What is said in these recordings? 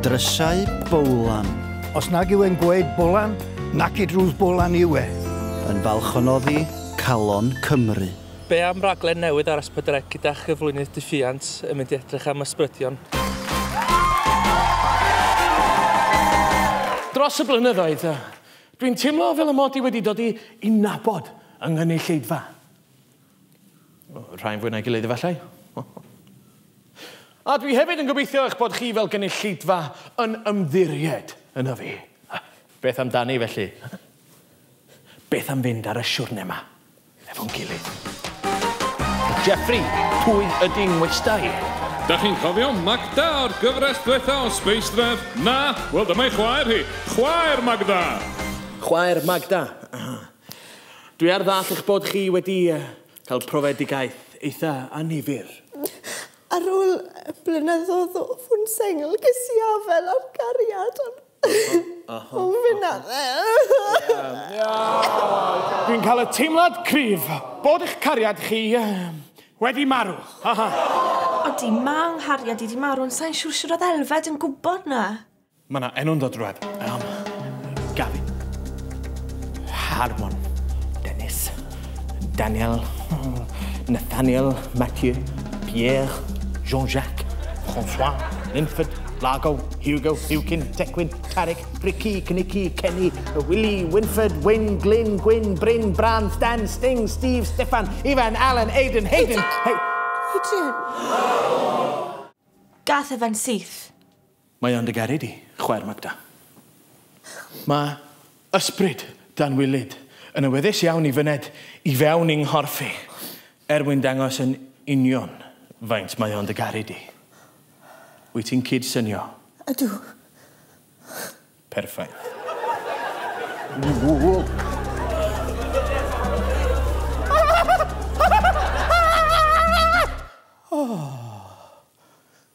Drysau Bowlan. Os nag yw e'n gweud Bolan, naci drws Bolan yw e. Yn falch o noddi calon Cymru. Be am raglen newydd ar S4C gyda chyflwynydd Diffuant yn mynd i edrych am ysbrydion? Dros y blynyddoedd, dwi'n teimlo fel y mod i wedi dod i i nabod yng nghynulleidfa. Rhai'n fwy na'i gilydd efallai. A dwi hefyd yn gobeithio eich bod chi fel gynulleidfa yn ymddiried yna fi. Beth amdani felly? Beth am fynd ar y siwrne ma efo'n gilydd? Jeffrey, pwy ydi ngwestai? Dach chi'n cofio Magda o'r gyfres dwetha o Space Rev? Na? Wel dyma'i chwaer hi. Chwaer Magda! Chwaer Magda. Dwi ar ddall eich bod chi wedi cael profedigaeth eitha annifyr. Ar ôl blynyddodd o fod yn sengl ges i afael ar gariad ond o fe na fe. Dwi'n cael y teimlad cryf bod eich cariad chi wedi marw. Odi, ma' nghariad i 'di marw ond sai'n siŵr shwd oedd Elfed yn gwybod 'na. Mae yna enw'n dod drwad. Iawn. Gavin. Harmon. Dennis. Daniel. Nathaniel. Mathieu. Pierre. Jean-Jacques. François. Linford. Lago. Hugo. Hewkin. Tecwyn. Carrick. Ricky. Cnicky. Kenny. Willie. Winford. Wyn. Glyn. Gwyn. Bryn. Bran. Stan. Sting. Steve. Stefan. Ivan. Alan. Aiden. Hayden. Hey. Adrian. Gath Evan syth. Mae o'n dy garu di, chwaer Magda. Mae ysbryd Dan Wylyd yn awyddus iawn i fyned i fewn i'n nghorff i, er mwyn dangos yn union faint mae o'n dy garu di. Wyt ti'n cyd-synio? Ydw. Perffaith.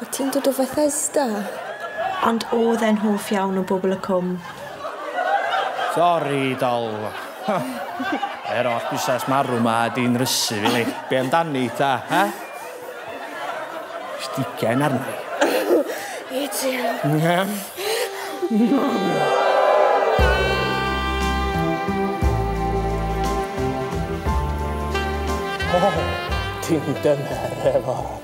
Wyt ti'n dod o Fethesda? Ond oedd e'n hoff iawn o bobl y cwm. Sori, dol. Yr holl busnes marw 'ma 'di nrysu fi, li. Be' amdani, ta, he? Stigen arna i. It you. O! Ti'n dyner efo.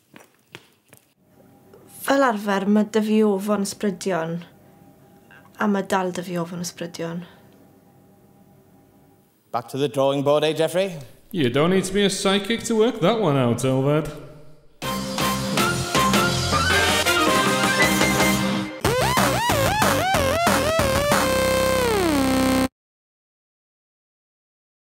Fel arfer ma' 'da fi ofon ysbrydion a ma' dal 'da fi ofon ysbrydion. Back to the drawing board, eh Geoffrey? You don't need to be a psychic to work that one out, Elfed.